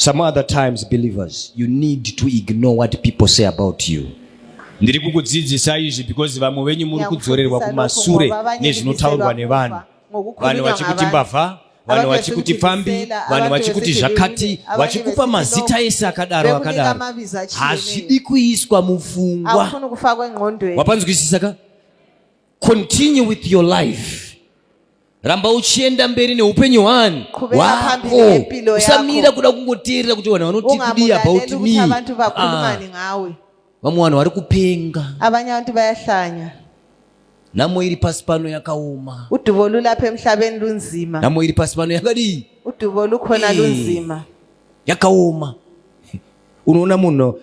Some other times, believers, you need to ignore what people say about you. ndiri kukudzidzisa izvi because vamwe venyu muri kudzorerwa kumasure nezvinotaurwa nevanhu vanhu vachikuti mbavha vanhu vachikuti pfambi vanhu vachikuti zvakati vachikupa mazita ese akadaro akadaro hazvidi kuiswa mufungwa wapanzwisisa ka continue with your life ramba uchienda mberi neupenyu hwani hwako usamira kuda kungoteerera kuti vanhu vanoti kudii about me ah. vamwe vanhu vari kupenga avanye vantu vayahlanya nhamo iri pasi pano yakaoma uduvo lulapha emhlabeni lunzima nhamo iri pasi pano yakadii uduvo lukhona lunzima yakaoma unoona munhu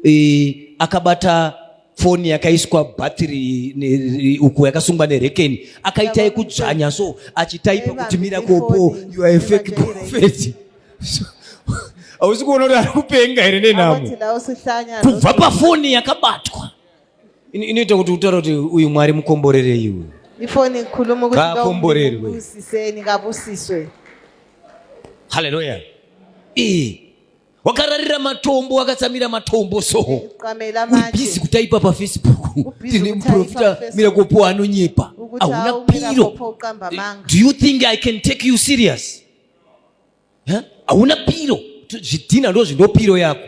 e, akabata foni yakaiswa bhatiri uku yakasungwa nerekeni akaita yekudzvanya so achitaipa kuti mira kopo you are a fake prophet hausi kuona kuti ari kupenga here nenhamo kubva pafoni yakabatwa inoita kuti utaura kuti uyu mwari mukomborerei uyu ifoni ikhulume ukuthi haleluya wakararira matombo wakatsamira matombo so uribhizi kutaipa pafacebook tine muprofita mira kopo anonyepa hauna piro do you think i can take you serious hauna piro zvidhina ndo zvindopiro yako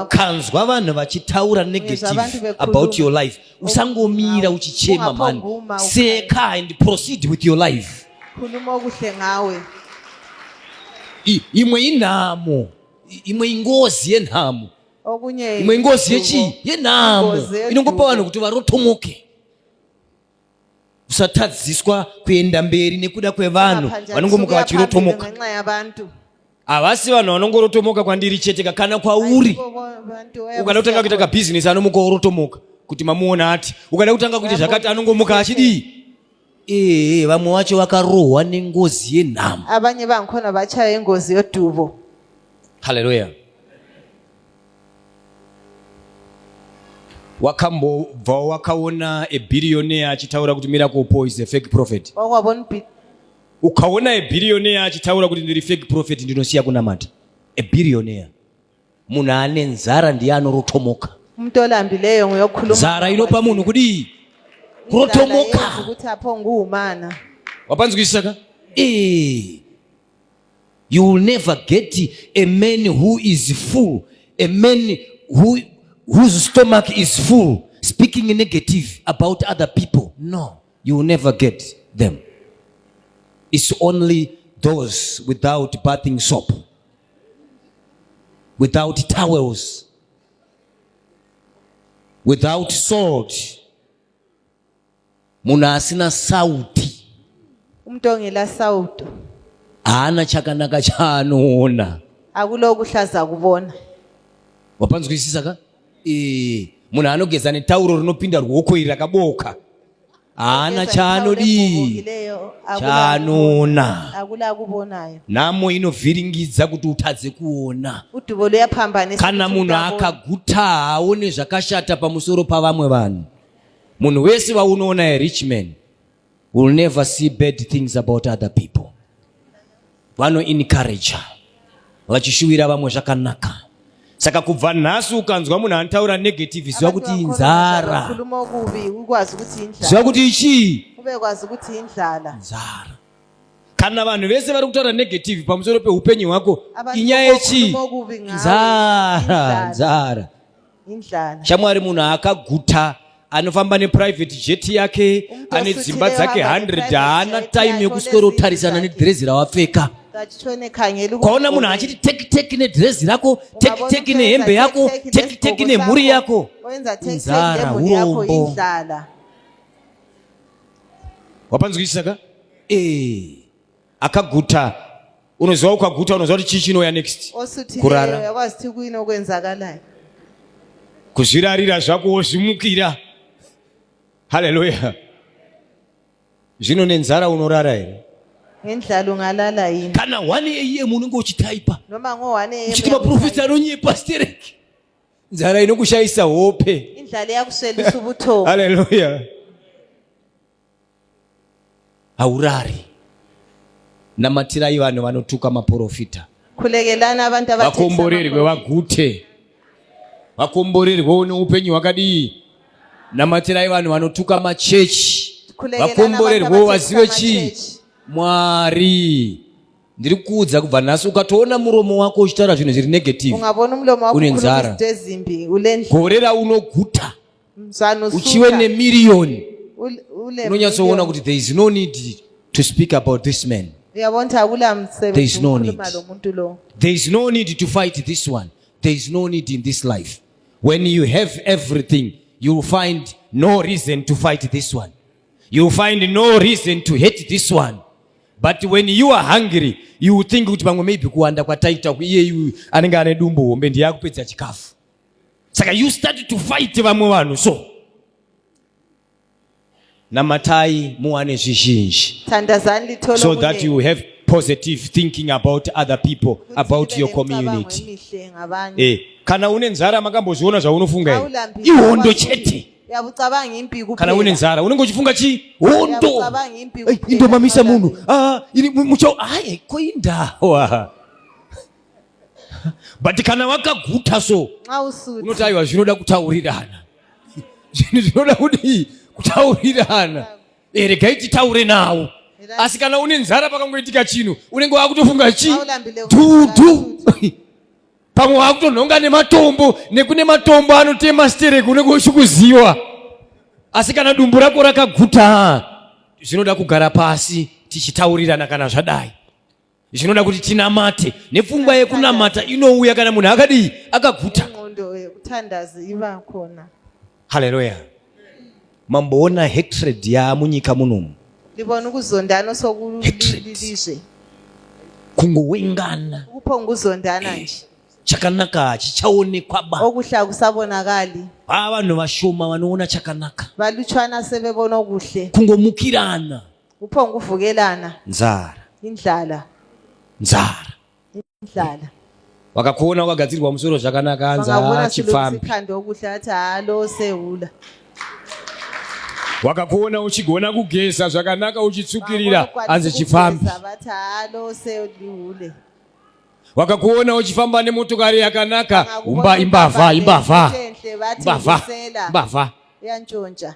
ukanzwa vanhu vachitaura negative about your life usangomira uchichema mani seka and proceed with your life khuluma okuhle ngawe imwe inhamo imwe ingozi yenhamo okunye imwe ingozi yechii yenhamo inongopa vanhu kuti varotomoke usatadziswa kuenda mberi nekuda kwevanhu vanongomuka vachirotomoka havasi vanhu vanongorotomoka kwandiri cheteka kana kwauri ukada kutanga kuita kabhizinesi anomuka orotomoka kuti mamuona ati ukada kutanga kuita zvakati anongomuka achidii ee vamwe vacho vakarohwa nengozi yenhamo abanye bangikhona bachaya ingozi yodubo haleluya wakambobvawo wakaona ebirioneya achitaura kuti miracle po is a fake prophet wakwabona Ukaona a billionaire achitaura kuti ndiri fake prophet ndinosiya kunamata. A billionaire. Munhu ane nzara ndiye anorotomoka. Umuntu olambileyo nguye okhuluma. Nzara inopa munhu kudii? Kurotomoka. Ukuthi apho nguwumana. Wapanzwisisa ka? Eh. You will never get a man who is full, a man who whose stomach is full speaking negative about other people. No. you will never get them it's only those without bathing soap without towels without salt munhu asina sauti umntu ongela sauti haana chakanaka chaanoona akulokuhlaza kubona wapanzwisisa ka munhu anogeza netauro rinopinda ruoko iri rakabooka haana chaanodii chaanoona nhamo inovhiringidza kuti utadze kuona kana munhu akaguta haaone zvakashata pamusoro pavamwe vanhu munhu wese waunoona erichman will never see bad things about other people vano encourager vachishuwira vamwe zvakanaka saka kubva nhasi ukanzwa munhu anotaura negative ziva kuti inzara ziva kuti ichii inzara kana vanhu vese vari kutaura negative pamusoro peupenyu hwako inyaya yechii nzara nzara indlala shamwari munhu akaguta anofamba neprivate jet yake ane dzimba dzake 100 haana time yekusworotarisana nedhirezi rawapfeka kwaona munhu achiti tekiteki nedhirezi rako tekiteki nehembe yako tekiteki nemhuri yako nzara urombo wapanzwisisa ka ee eh. akaguta unoziva ukaguta unoziva kuti chii chinouya next kurara kuzvirarira zvako wozvimukira haleluya zvino nenzara unorara here ngendlala ungalala yini kana 1 am unenge uchitaipa noma ngo-1 am uchiti maprofita anonyepa stereki nzara inokushayisa hope indlala yakuswelisa ubuthongo haleluya haurari namatirai vanhu vanotuka maporofita kulekelana abantu vakomborerwe vagute vakomborerwewo neupenyu hwakadii namatirai vanhu vanotuka machechi vakomborerwewo vazive chii mwari ndiri kuudza kubva nhasi ukatoona muromo wako uchitaura zvinhu zviri negative une nzara gore raunoguta uchive nemiriyoni unonyatsoona kuti there is no need to speak about this man there is no need there is no need to fight this one there is no need in this life when you have everything you will find no reason to fight this one you will find no reason to hate this one but when you are hungry you will think kuti pamwe maybe kuwanda kwataita iye anenge ane dumbu hombe ndiye akupedza chikafu saka you start to fight vamwe vanhu so namatai muwane zvizhinji so that you have positive thinking about other people about your community eh, kana une nzara makambozviona zvaunofunga here ihondo chete kana une nzara unenge uchifunga chi hondo indomamisa munhu ah, muchao aye koindawa but kana wakaguta so unoti aiwa zvinoda kutaurirana zvinhu zvinoda kudii kutaurirana eh, regai titaure nawo asi kana une nzara pakangoitika chinhu unenge waakutofunga chi dhudhu pamwe waakutonhonga nematombo nekune matombo anotema stereki unenge uchikuziwa asi kana dumbu rako rakaguta zvinoda kugara pasi tichitaurirana kana zvadai zvinoda kuti tinamate nepfungwa yekunamata inouya kana munhu akadii akaguta haleluya mamboona hatred yaamunyika munomu ndibona ukuzondana sokulilizve kungowengana kuponguzondana eh, nje chakanaka hachichaonekwa ba okuhle akusabonakali haa vanhu vashoma vanoona chakanaka valutshwana sevebona okuhle kungomukirana Kuphonguvukelana. Nzara. Indlala. Nzara. Indlala. Wakakuona wakagadzirirwa musoro zvakanaka hanzi haa chipfambi. Khanda okudla athi haa lo sehula. Wakakuona uchigona kugeza zvakanaka uchitsukirira hanzi chipfambi. Vathi haa lo sehule. Wakakuona uchifamba nemotokari yakanaka umba imbavha imbavha. Imbavha. Imbavha. Yanjonja.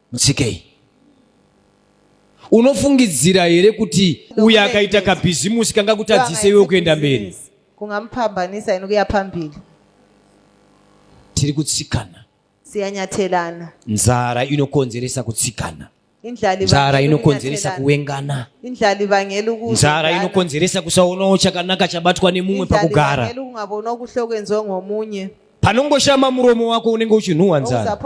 mutsikei unofungidzira here kuti uyo akaita kabhizimusi kanga kutadzise iwe kuenda mberi kungamupambanisa ino kuya pambili tiri kutsikana siyanyatelana nzara inokonzeresa kutsikana nzara inokonzeresa kuwengana nzara inokonzeresa kusaonawo chakanaka chabatwa nemumwe pakugara panongoshama muromo wako unenge uchinhuwa nzara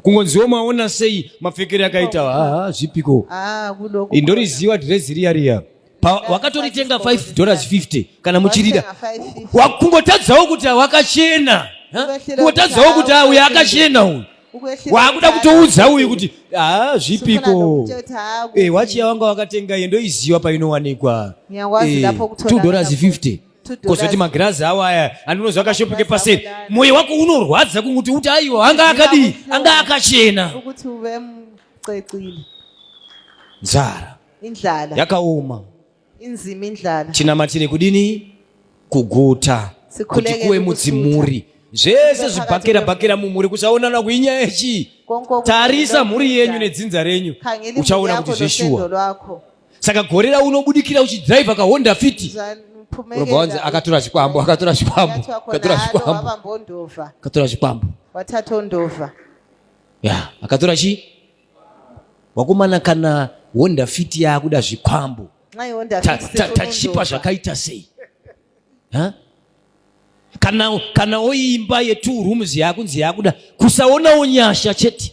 kungonziwo maona sei mapfekere akaita haa zvipiko ah, indoriziva dhirezi riya riya wakatoritenga 5 dollars 50 kana muchirida kungotadzawo kuti wakachena kungotadzawo kuti uyu akachena uyu wakuda kutoudza uyu kuti haa ah, zvipiko eh, wachiya wanga wakatenga iye ndoiziva painowanikwa 2 eh, dollars 50 kozoti magirazi awo aya andinozva akashopeke paseri mwoyo wako unorwadza kunguti uti aiwo anga akadii anga akachena ukuthi uve mcecile nzara indlala yakaoma inzima indlala tinamatire kudini kuguta kuti kuwe mudzimuri zvese zvibhakera bhakera mumhuri kuchaonana kuinya yechi tarisa mhuri yenyu nedzinza renyu uchaona kuti zveshuwa saka gore rauno ubudikira uchidriver kahonda fiti unobva wanzi akatora zvikwambo akatora zvikwambo akatora zvikwambo akatora zvikwambo watatondova ya akatora chi wakomana kana honda fiti yaakuda zvikwambo tachipa zvakaita sei kana kana oimba yetu rooms yakunzi yakuda kusaonawo nyasha chete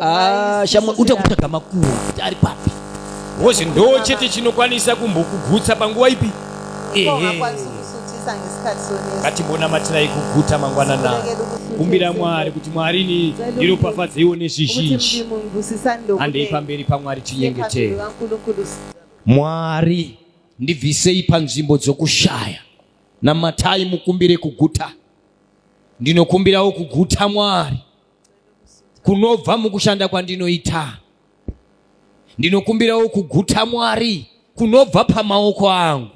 Ah, shamwa uta kutsvaga makuwa kuti ari papi wozi ndo chete chinokwanisa kumbokugutsa panguva ipi ngatimbonamatirai kuguta mangwanana kumbira mwari kuti mwari ni ndiropafadzeiwo nezvizhinji handei pamberi pamwari tinyengetei mwari ndibvisei panzvimbo dzokushaya namatai mukumbire kuguta ndinokumbirawo kuguta mwari kunobva mukushanda kwandinoita ndinokumbirawo kuguta mwari kunobva pamaoko angu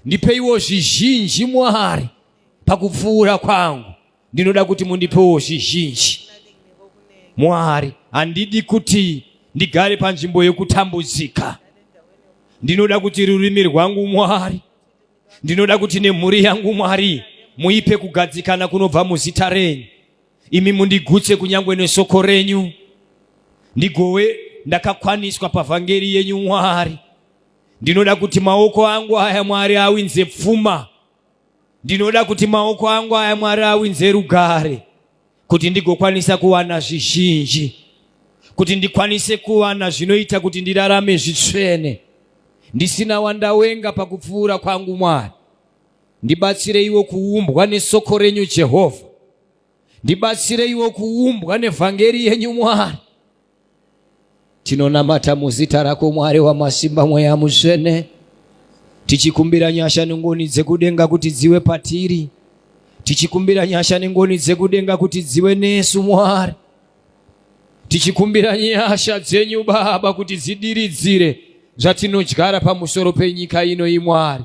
ndipeiwo zvizhinji mwari pakupfuura kwangu ndinoda kuti mundipewo zvizhinji mwari handidi kuti ndigare panzvimbo yokutambudzika ndinoda kuti rurimi rwangu mwari ndinoda kuti nemhuri yangu mwari muipe kugadzikana kunobva muzita renyu imi mundigutse kunyangwe nesoko renyu ndigowe ndakakwaniswa pavhangeri yenyu mwari ndinoda kuti maoko angu aya mwari awinze pfuma ndinoda kuti maoko angu aya mwari awinze rugare kuti ndigokwanisa kuwana zvizhinji kuti ndikwanise kuwana zvinoita kuti ndirarame zvitsvene ndisina wandawenga pakupfuura kwangu mwari Ndibatsireiwo kuumbwa nesoko renyu Jehovha. Ndibatsireiwo kuumbwa nevhangeri yenyu Mwari. Tinonamata muzita rako Mwari wamasimba mweya mutsvene. Tichikumbira nyasha nengoni dzekudenga kuti dziwe patiri. Tichikumbira nyasha nengoni dzekudenga kuti dziwe nesu Mwari. Tichikumbira nyasha dzenyu Baba kuti dzidiridzire zvatinodyara pamusoro penyika ino imwari.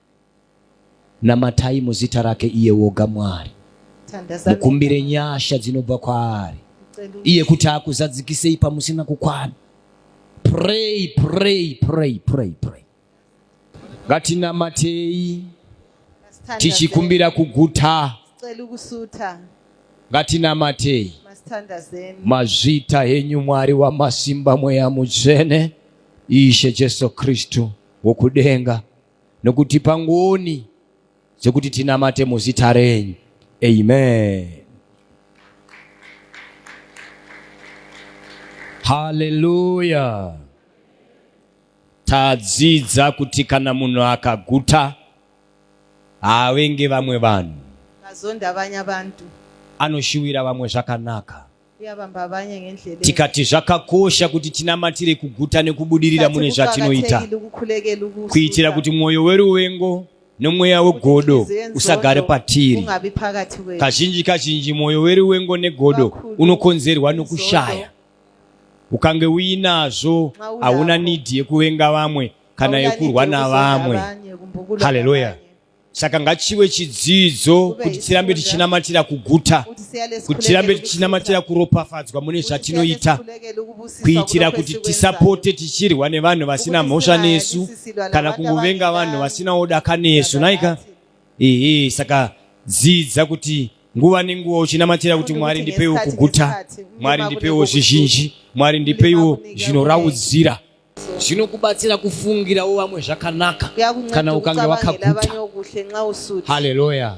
Namatai muzita rake iye woga Mwari, mukumbire nyasha dzinobva kwaari iye kuti akuzadzikisei pamusina kukwana. Pray, pray, pray, pray, pray. Ngatinamatei tichikumbira kuguta, ngatinamatei mazvita henyu Mwari wamasimba, mweya mutsvene, Ishe Jesu Kristu wokudenga nokutipa ngoni dzekuti tinamate muzita renyu. Amen. Haleluya. Tadzidza kuti kana munhu akaguta haavenge vamwe vanhu, azonda vanya vantu, anoshuwira vamwe zvakanaka. tikati zvakakosha kuti tinamatire kuguta nekubudirira mune zvatinoita kuitira kuti mwoyo weruvengo nomweya wegodo usagare patiri kazhinji kazhinji mwoyo weruvengo negodo unokonzerwa nokushaya ukange uinazvo hauna nidhi yekuvenga vamwe kana yekurwa navamwe haleluya saka ngachive chidzidzo kuti tirambe tichinamatira kuguta kuti tirambe tichinamatira kuropafadzwa mune zvatinoita kuitira kuti tisapote tichirwa nevanhu vasina mhosva nesu kana kungovenga vanhu vasinawo daka nesu naika ehe saka dzidza kuti nguva nenguva uchinamatira kuti mwari ndipeiwo kuguta mwari ndipeiwo zvizhinji mwari ndipeiwo zvinoraudzira zvinokubatsira kufungirawo vamwe zvakanaka kana ukange wakaguta haleluya